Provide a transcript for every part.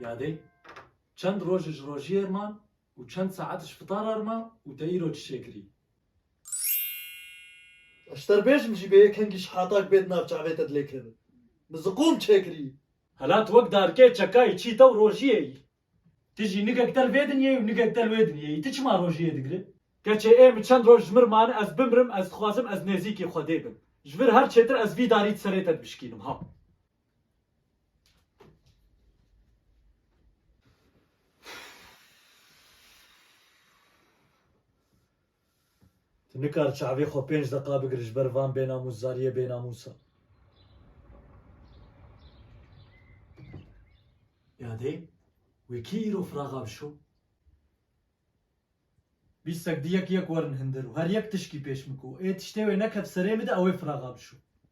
Yadê, çend roj ji rojiyê ir man û çend saet ji fitara ir ma û te îro çi çêkirî? Ez terbêjim jî bê yekengî ji hatak bê di nav çavê te dilêkirin. Min ziqûm çêkirî. Hela tu wek darkê çekayî çî te û rojiyê î. Ti jî nikek del vê dinyeyê û nikek del wê dinyeyê, ti çima rojiyê digri? Keçê ê min çend roj ji mir mane ez bimirim, ez dixwazim ez nêzîkî Xwedê bim. Ji vir her çêtir ez vî darî di serê te dibişkînim ha. Tu nikar çavê xwe pênc deqa bigir ji ber van bênamûsdariyê bênamûsa. Ya dê wê kî îro firaxa bişo? Bîstek di yek yek werin hindir û her yek tişkî pêş min ku ê tiştê wê nekef serê min de ewê firaxa bişo.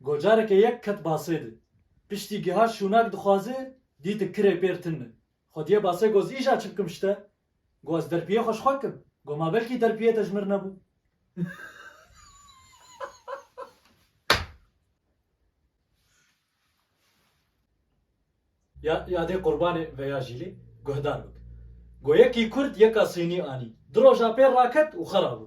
Gocareke yek ket basê de. Piştî giha şûnak dixwaze, dîti kirê pêr tin e. Xwediyê basê goz îja çi bikim şite? Go ez derpiyê xwe ji xwe kim. Go ma belkî derpiyê te ji mir nebû. Ya ya dê qurbanê veya jîlê guhdar bik. Go yekî kurd yeka sînî anî. Du roja pêr raket û xera bû.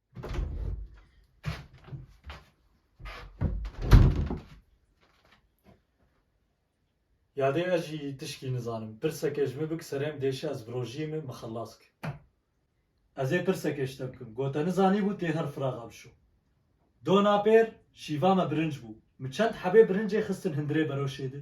Ya dê ez jî tişkî nizanim. Pirseke ji min bik serêm dêşe ez bi rojiyê min min xelas bike. Ez ê pirseke ji te bikim. Got te nizanîbû tê her firaxa bişo. Dona pêr şîva me birinc bû. Min çend hebê birincê xistin hundirê beroşê di.